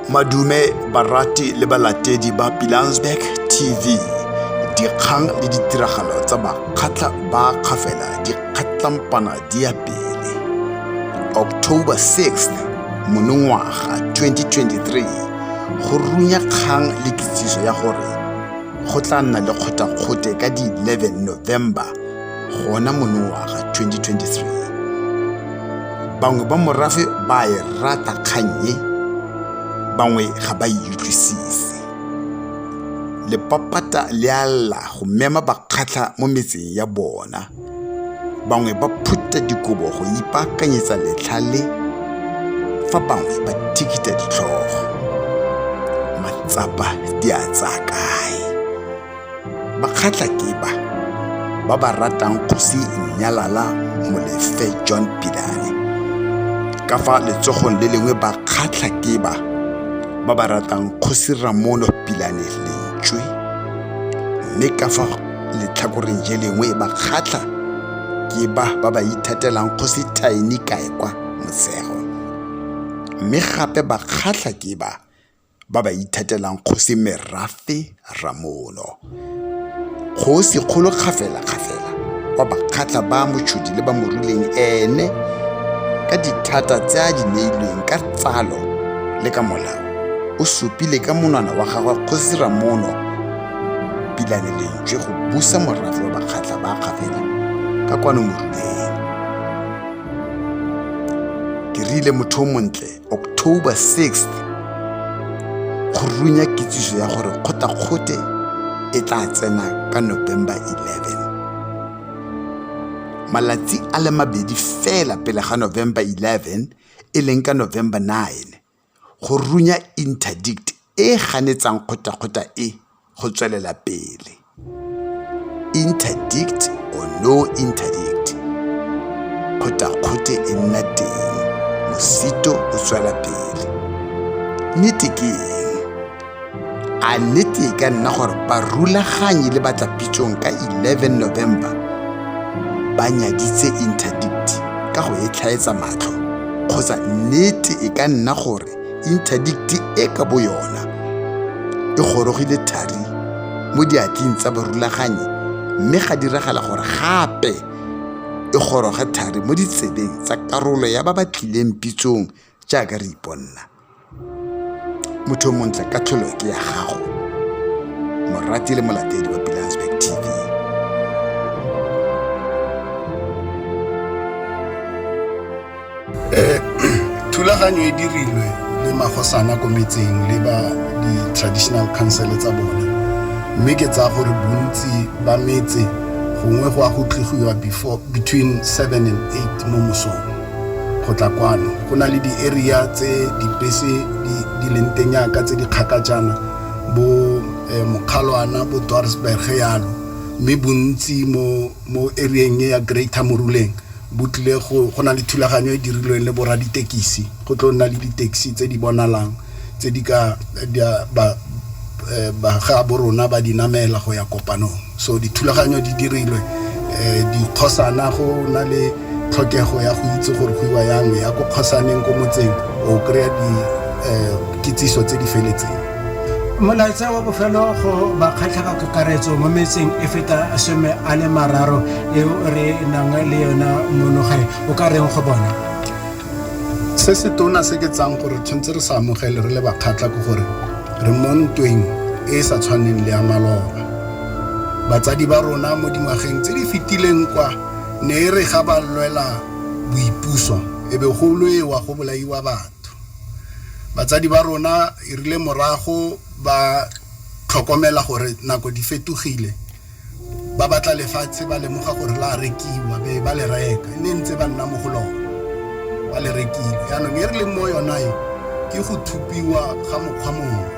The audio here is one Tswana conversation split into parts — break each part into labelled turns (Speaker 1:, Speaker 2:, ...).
Speaker 1: madume barati le balatedi ba pilansberg tv dikgang le ditiragalo tsa bakgatlha ba kgafela di kgatlampana di ya pele october 6 monongwaga 2023 go runya kgang le kitsiso ya gore go tla nna le kgothakgothe ka di 11 november gona monongwaga 2023 bangwe ba morafe ba e rata kgannye bangwe ga ba e utlwisise lepapata le a lla go mema bakgatlha mo metseng ya bona bangwe ba phutha dikobo go ipaakanyetsa letlha le fa bangwe ba thikita ditlhogo matsapa di a tsaya kae Bakgatla ke ba ba ba ratang kgosi Nnyalala Molefe John Pidane. Ka fa letsogong le lengwe bakgatla ke ba ba ba ratang kgosi Ramono Pilane Lentswe. Mme ka fa letlhakoreng je lengwe bakgatla ke ba ba ba ithatelang kgosi Thaini Kaekwa Mosego. Mme gape bakgatla ke ba ba ba ithetelang kgosi merafe ramono kgosi kgolo kgafelakgafela wa bakgatlha ba motšhodi le ba moruleng ene ka dithata tse a di neilweng ka tsalo le ka molao o supile ka monwana wa gagwe kgosi ramono pilane lentswe go busa morafe wa bakgatlha ba kgafela ka kwano moruleng ke rile motho o montle october 6th go runya kitsiso ya gore kgotakgote e tla tsena ka november 11 malatsi a le mabedi fela pele ga november 11 e leng ka november 9 go runya interdict e ganetsang kgotakgota e go tswelela pele. Interdict or no interdict, kgotakgote e nna teng, mosito o tswela pele. Nnete ke eng? A nnete e ka nna gore barulaganyi le batlapitsong ka 11 November ba nyaditse interdict ka go e tlhaetsa matlho kgotsa nnete e ka nna gore interdikte e ka bo yona e gorogile thari mo diatleng tsa barulaganyi mme ga diragala gore gape e goroge thari mo ditsebeng tsa karolo ya ba ba tlileng pitsong jaaka re iponna motho o montle ka tlholo ke ya gago morati le molatedi wa pilansburg tv
Speaker 2: Eh, thulaganyo e dirilwe le magosana ko metseng le ba di-traditional council tsa bone mme ke tsaya gore bontsi ba metse gongwe go a go tligiwa before between seven and eight mo mosong go tla kwano go na le di-area tse dibese di- di leng teng yaka tse di kgaka jaana bo eh, mokgalwana bo dorsberg yalo mme bontsi mo mo area-eng e ya Greater Moruleng bo tlile go go na le thulaganyo e dirilweng le borra ditekisi go tlo nna le di-taxi tse di bonalang tse di ka ba ga bo rona ba di namela go ya kopanong so dithulaganyo di dirilwe dikgosana go na le tlhokego ya go itse gore go iwa yang ya ko kgosaneng ko motseng o kry-a di kitsiso tse di feletseng. Molaetsa
Speaker 3: wa bofelo go bakgatlhaga kakaretso mo metseng e feta some a le mararo eo re nang le yona mono gae o ka reng go bona
Speaker 2: se se tona se ke tsang gore tshwanetse re sa amogele re le bakgatlha ke gore re mo ntweng e e sa tshwaneng le ya maloba batsadi ba rona mo dingwageng tse di fetileng kwa ne e re ga ba lwela boipuso e be go lwewa go bolaiwa batho batho. Batsadi ba rona erile morago ba tlhokomela gore nako di fetogile, ba batla lefatshe ba lemoga gore la rekiwa, be ba le reka. E ne e ntse ba nna mo go lone, ba le rekile. Yaanong e re leng mo yona e, ke go thupiwa ga mokgwa mongwe.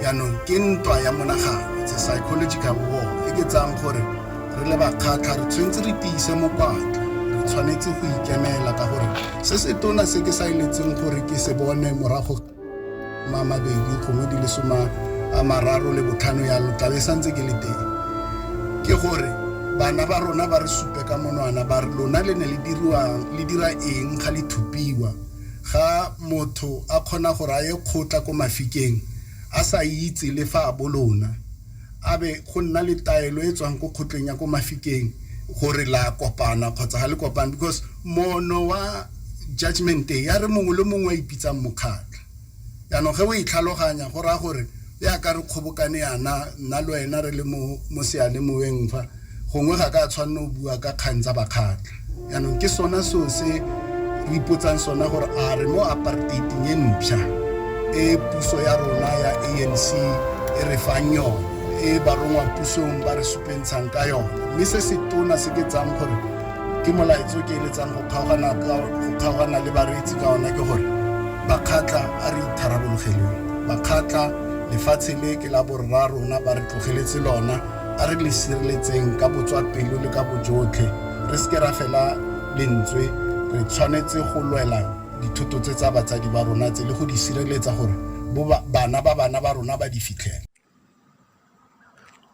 Speaker 2: Yaanong ke ntwa ya monagano, it's a psychological war, e ke tsayang gore re le bakgatlha re tshwanetse re tiise mokwatla, re tshwanetse go ikemela ka gore se se tona se ke sa eletseng gore ke se bone morago ma mabedi gongwe di le soma a mararo le botlhano yalo tlabe santse ke le teng ke gore bana ba rona ba re supe ka monwana ba re lona le ne le dirwang le dira eng ga le thupiwa ga motho a kgona gore a ye kgotla ko mafikeng a sa itse le fa a bolona A be go nna le taelo e tswang ko kgotleng ya ko Mafikeng gore la kopana kgotsa ga le kopane because moono wa judgment e ya re mongwe le mongwe a ipitsang mokgatlho. Yaanong ge o e tlhaloganya go raya gore ya ka re kgobokane yana nna le wena re le mo mo seyalemoweng fa Gongwe ga ka a tshwanna go bua ka kgang tsa bakgatla. Jaanong ke sona seo se re ipotsang sona gore a re mo aparteiteng e mpsha e puso ya rona ya ANC e re fang yone, e barongwa pusong ba re supentshang ka yone. Mme se se tona se ke tsang gore ke molaetsa o ke eletsang go kgaogana ka go kgaogana le bareetsi ka ona ke gore bakgatla a re itharabologeleng. Bakgatla lefatshe le ke la borra rona ba re tlogeletse lona. a re le sireletseng ka botswapelo le ka bojotlhe re seke ra fela lentswe re tshwanetse go lwela dithoto tse tsa batsadi ba rona tse le go di sireletsa gore bo ba- bana ba bana ba rona ba di fitlhele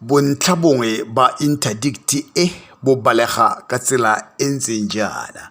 Speaker 1: Bontlha bongwe ba interdikthi e bo balega ka tsela e ntseng jaana.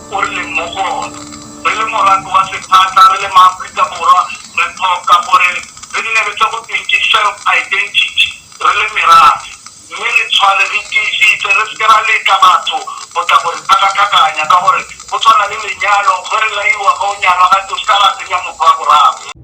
Speaker 4: o re leng mo go ona. Re le morafe wa sephatla, re le maAforika Borwa, re tlhoka gore re nne le se go tweng ke self identity re le merafe, mme re tshware re tiisitse, re seke ra letla batho go tla go re tlhakatlhakanya ka gore go tshwana le lenyalo, ge re laiwa ge o nyalwa gate o seka wa tsenya motho wa boraro.